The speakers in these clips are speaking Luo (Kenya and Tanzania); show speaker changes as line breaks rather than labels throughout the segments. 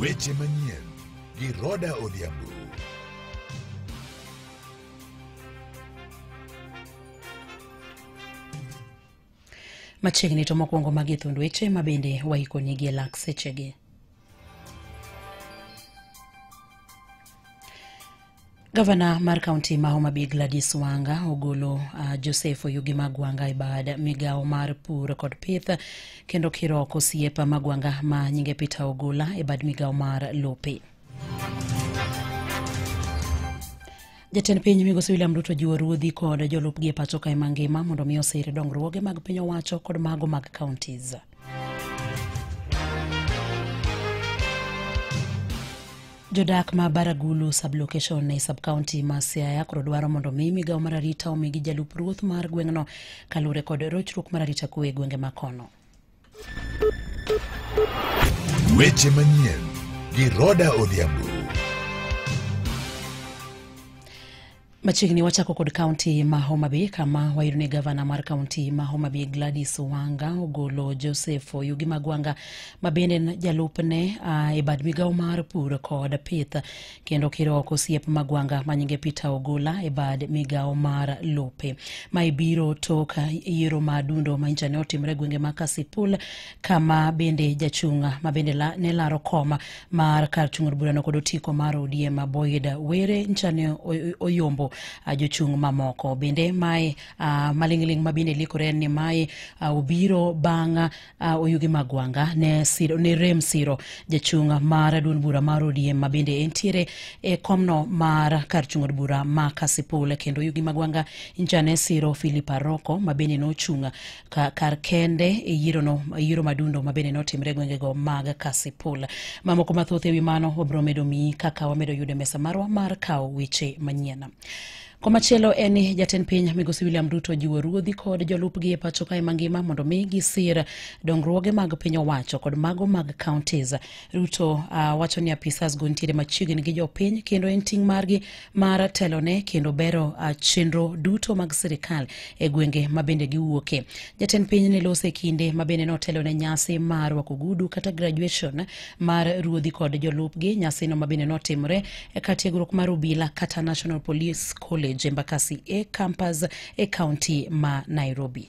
Weche manyien gi Roda Odhiambo.
Machiegni to mokwongo magi thund weche ma bende waikonigi e lak sechegi. Gavana mar kaunti ma Homa Bay Gladys Wanga ogolo uh, Joseph Oyugi Magwanga e bad migawo mar pur kod pith kendo kiroko osiep Magwanga ma nyinge Peter Ogola e bad migawo mar lope. Jatend piny migosi William Ruto jiwo ruodhi kod jolupgi e pacho kae mangima mondo mi osir dongruoge mag piny owacho kod mago mag counties. jodak ma baragulu sublocation e subcounty ma siaya koro dwaro mondo omi migawo mar arita omigi jalup ruoth mar gweng'no kaluwore kod rochruok mar arita kwe e gwenge ma kono
weche manyien gi roda odhiambo
Machiegni wachako kod kaunti ma Homa Bay kama wayudo ni gavana mar kaunti ma Homa Bay Gladys Wanga ogolo Joseph Oyugi Magwanga ma bende en jalupne uh, e bad migawo mar pur kod pith kendo kiro oko osiep Magwanga ma nyinge Peter Ogola e bad migawo mar lope. Ma ibiro tok yiero ma dundo ma ncha ne otimre e gwenge ma Kasipul kama bende jachung' ma bende la, ne laro koma mar kar chung' od burano kod otiko mar odm boyd were nchane oy- oyombo ah, jochung' mamoko bende mae ah, maling'ling' ma bende likore en ni mae ah, obiro bang' ah, oyugi magwanga ne, siro, ne rem siro jachung' mar duond bura mar odm ma bende entiere e komno mar kar chung' od bura ma kasipul kendo oyugi magwanga nchane siro philip aroko ma bende nochung' ka kar kende e yirono yiero madundo ma bende notimre e gwengego mag kasipul mamoko mathoth ewi mano wabiro medo miyi kaka wamedo yudo e mesa marwa mar kawo weche manyien Komachielo en ni jatend piny migosi William Ruto jiwo ruodhi kod jolupgi e pacho kae mangima mondo mi gisir dongruoge mag piny owacho kod mago mag counties. Ruto uh, wacho ni apisas go nitiere machiegni gi jopiny kendo en ting' margi mar telone kendo bero ah, chenro duto mag sirikal e gwenge ma bende giwuoke. Jatend piny ne lose kinde ma bende notelo ne nyasi mar rwako gudu kata graduation mar ruodhi kod jolupgi, nyasino ma bende notimore e kar tiegruok mar obila kata National Police College Embakasi e campus e kaunti ma Nairobi.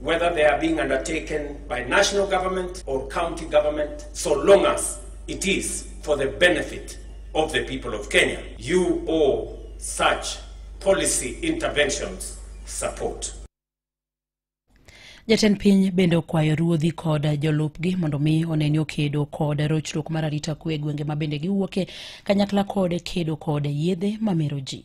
whether they are being undertaken by national government or county government, so long as it is for the benefit of the people of Kenya. You owe such policy interventions support.
Jatend piny bende okwayo ruodhi kod jolupgi mondo mi oneni okedo kod rochruok mar arita kwe e gwenge ma bende giwuoke kanyakla kod kedo kod yedhe mamero ji.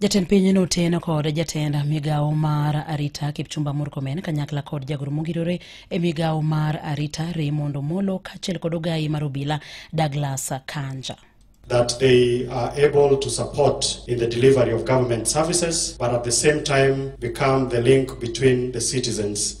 Jatend piny noteno kod jatend migawo mar arita Kipchumba Murkomen kanyakla kod jagoro mogirore e migawo mar arita Raymond Omolo kaachiel kod ogayi mar obila Douglas Kanja. that
they are able to support in the delivery of government services, but at the same time become the link between the citizens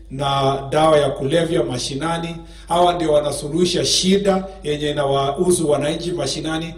na dawa ya kulevya mashinani. Hawa ndio wanasuluhisha shida yenye inawahusu wananchi mashinani.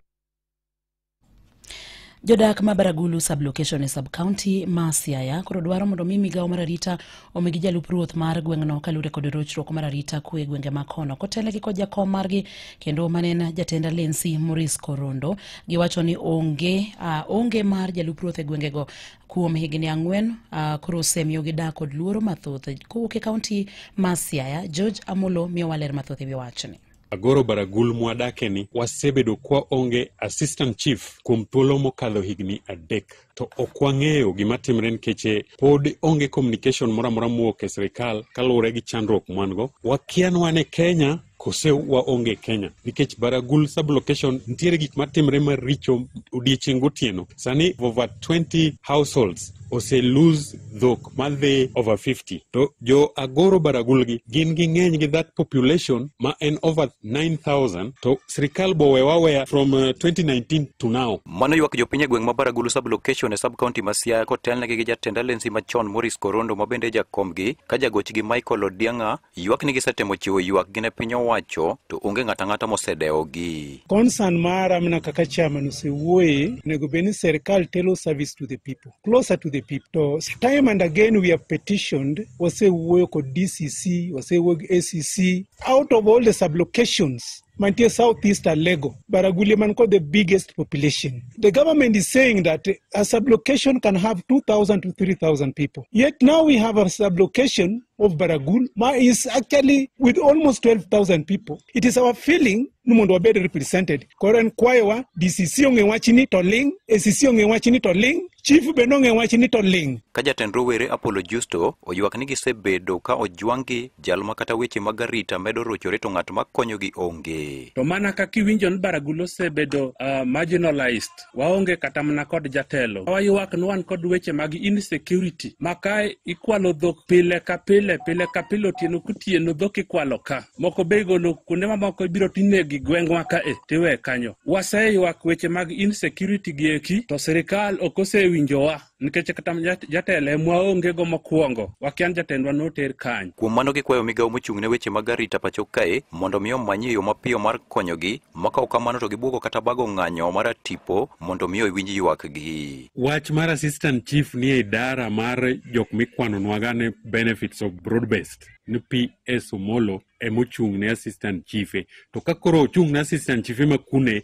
jodak ma baragulu sublocation e subcounty ma siaya koro dwaro mondo mi migawo mar arita omigi jalup ruoth mar gweng'no kaluwore kod rochruok mar arita kwe e gwenge ma kono kotelegi kod jakom margi kendo mane en jatend alensi moris korondo giwacho ni onge uh, onge mar jalup ruoth e gwengego kuom higni ang'wen uh, koro osemiyogi dak kod luoro mathoth kowuok e kaunti ma Siaya. George Amolo miyowa ler mathoth e wi wachni. Agoro Baragul
mwadake ni wasebedo kwa onge assistant chief kuom thuolo mokadho higni adek to ok wang'eyo gima timre nikech eh, pod onge communication moro amora mowuok e sirikal kaluwore gi chandruok mwan go. Wakian wan e Kenya kose waonge Kenya nikech Baragul sublocation nitiere gik matimre maricho odiechieng' gotieno. Sani over 20 households ose lose dhok madhi over 50 to jo Agoro Baragul gi gin gi ng'eny gi that population ma en over 9000 to sirikal bowe waweya from uh, 2019 to now. Mano ywak jopiny e gweng'
ma Baragulu sublocation e sub-county ma Siaya kotelnegi gi jatend alensi machon Morris Korondo ma bende e jakombgi ka jagochgi Michael Odiang'a Ywak ni gisetemo chiwo ywakgi ne piny owacho to onge ng'ato ang'ata mosedewogi. Concern mara
mana kaka chairman osewuoye, onego bed ni serikal telo service to the people, closer to the people. To time and again we have petitioned, wasewuoyo kod DCC, wasewuoyo gi ACC, out of all the sublocations mantie southeast Alego, Baragulia man kod the biggest population. The government is saying that a sublocation can have 2,000 to 3,000 people. Yet now we have a sublocation of Baragul ma is actually with almost 12,000 people. It is our feeling ni mondo wabed represented. Koro en kwayowa DCC ong'e wachni to ling, ACC ong'e wachni to ling, chief bende ong'e wachni to ling. Ka jatend rowere
Apollo Justo oywak ni gisebedo ka ojwang'gi Jal ma kata weche mag arita medo rochore to ng'at ma konyogi onge. To mana kaka iwinjo
ni Baragul osebedo uh, marginalized, waonge kata mana kod jatelo. Waywak ni wan kod weche mag insecurity ma ka ikwalo dhok pile ka pile, pile ka pile, otieno kotieno dhok ikwalo ka. Moko be igolo kuonde mamoko ibiro tinegi gweng'wa ka e tiwe kanyo. Waseywak weche mag insecurity gi eki to sirikal ok osewinjowa. nikech kata jat- jatelo e mwaongego mokwongo wakia ni jatendwa noter kany Kuom mano gikwayo migawo
mochung' ne weche mag arita pacho kae mondo mi omanyie yo mapiyo mar konyogi, makawo kamano to gibwogo kata bago ng'anyo mar tipo mondo mi owinj ywakgi. Wach mar
assistant chief ni e idara mar jok mikwanonwaga ni benefits of broad based ni PS Omolo emochung' ne assistant chief e. to ka koro ochung' ne assistant chief ema kune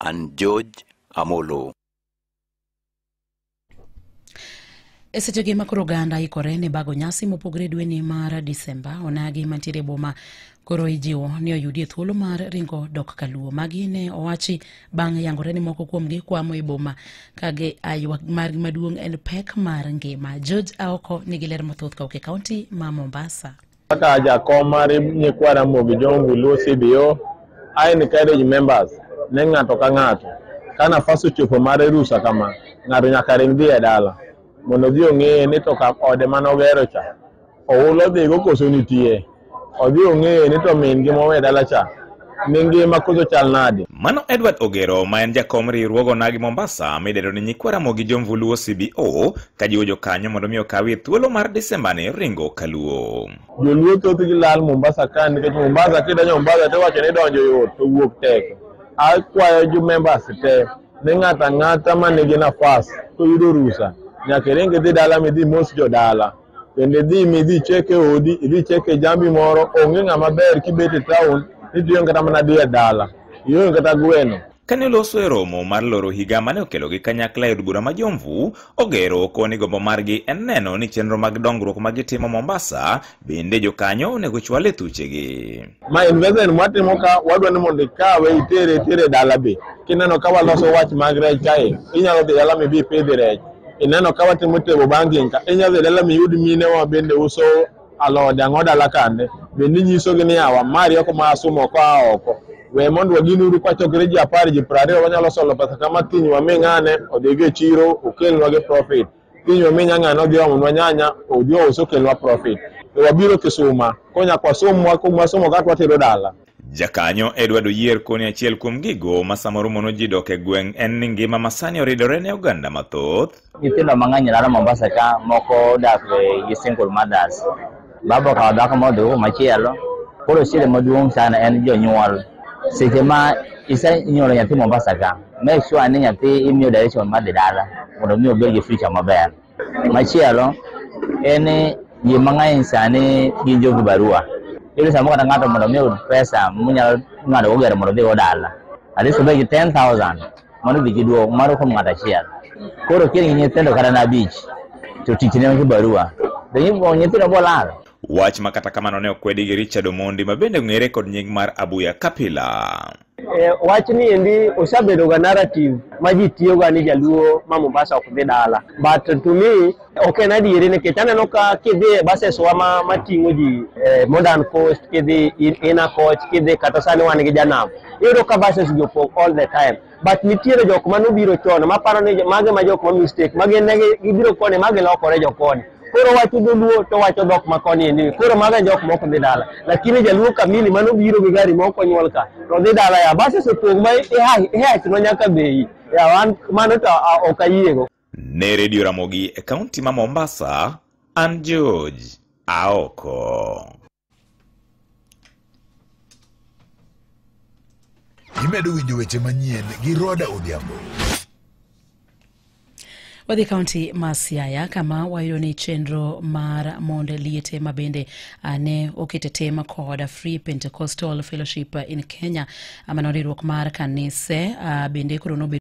An George Amolo.
E sechegi ma koro oganda ikore ne bago nyasi mopogre dweni mar Disemba, onagi mantiere e boma koro ijiwo ni oyudie thuolo mar ringo dok kaluo. Magi ne owachi bang' yangore ni moko kuomgi kwamo e boma kage aywa margi maduong' en pek mar ngima. George Aoko nigi ler mathoth ka ok e kaunti ma Mombasa. Kaka jakom
mar nyikwa Ramogi Jongu Luo CBO, I encourage members ne ng'ato ka ng'ato ka nafas ochopo mar rusa kama, ng'ato nyaka ring dhi e dala mondo odhi ong'eye ni to ka ode mane ogero cha oula odhigo koso nitie, odhi ong'eye ni to min gi mowe dala cha Mi ngima koso chal nade? Mano Edward Ogero
ma en jakom riwruog Onagi Mombasa midendo ni Nyikwa Ramogi Jomvuluo CBO ka jiwo jokanyo mondo mi okawie thuolo mar Desemba ni ringo kaluo. Joluo thoth gi
lal Mombasa ka nikech Mombasa kidonjo Mombasa to wacho ni donjo yot to wuok tek. Akwayo jo members te ni ng'ata ng'ata ma nigi nafas to yudo rusa nyaka iring idhi dala midhi mos jodala. Kendo idhi mi idhi cheke odi, idhi cheke jambi moro, onge ng'ama ber kibet e taon, nitiyo kata mana dhi e dala, ionge kata gweno. Kane oloso e romo
mar loro higa mane okelogi kanyakla e od bura ma Jomvu, ogero oko ni gombo margi en neno ni chenro mag dongruok ma gitimo Mombasa bende jokanyo onego chwal e thuchegi. ma investment
mwatimo ka wadwa ni mondo ikawe itere itere dala be kineno ka waloso wach mag rech kae inyalo dhi dala mibi ipidhi rech ineno ka watimo table banking ka inyalo dhi dala miyud mine wa bende uso alode ang'o dala kande bende inyisogi ni awa mari oko ma asumo oko a oko we mondo wagin uru kwachokre ji apar ji piero ariyo wanyalo solo pesa kama kiny wami ng'ane odhigo e chiro okelnwa gi profit Pinywa minya ng'ano odhi omonwa nyanya, odhi ous okelnwa profit. To wabiro kisuma, konya kwa somwa, kumwa somo ka twatero dala. Jakanyo Edward
Oyier koni achiel kuom gigo ma samoro mono ji dok e gweng' en ni ngima masani oridore ne oganda mathoth. Nyithindo mang'eny
laro Mombasa ka moko dak gi single mothers. Baba okawo dhako ma odhi machielo. Koro shida maduong' sana en jonyuol. Seche ma isenyuolo nyathi Mombasa ka, make sure ni nyathi imiyo direction mar dhi dala mondo mi obed gi future maber. Machielo en ni ji mang'eny sani gin jo vibarua. Iyudo samoro kata ng'ato mondo mi oyud pesa monyalo ng'ado go gari mondo odhigo dala. At least obed gi 10,000. mano dhi gi duong' mano kuom ng'ato achiel koro kiengi nyithindo kata na abich to tich ne gi barua to nyithindo bolal wach ma kata
kamano ne okwedi gi Richard Omondi ma bende ong'ere kod nying mar Abuya Kapila. E, wach
ni endi osebedoga narrative ma ji tiyoga ni jaluo ma Mombasa ok dhi dala but to me Ok en adieri nikech aneno ka kidhi e bases wa ma, ma ting'o ji eh, Modern Coast, kidhi in- Inner Coach, kidhi kata sani wan gi Janam. Iyudo ka bases gi opong all the time. But nitiere jok ma nobiro chon ma paro ni jo- mage ma jok ma mistake, mage ne gi- gibiro koni, mage lokore jo koni. Koro wacho dholuo to wacho dhok ma koni ni. Koro mage jok ma ok dhi dala. Lakini jaluo kamili ma nobiro gi gari ma ok onyuol ka to dhi dala ya. Bases opong ma ihach no nyaka bei. Ya wan mano to ah, ok ayiego. Ne redio
Ramogi e kaunti ma Mombasa, an George Aoko.
Imedo winjo weche manyien gi Roda Odhiambo.
wadhi kaunti ma siaya kama wayudo ni chenro mar mond liete ma bende ah, ne oket e tim kod free pentecostal fellowship in kenya ah, mano riwruok mar kanise ah, bende koro nobedo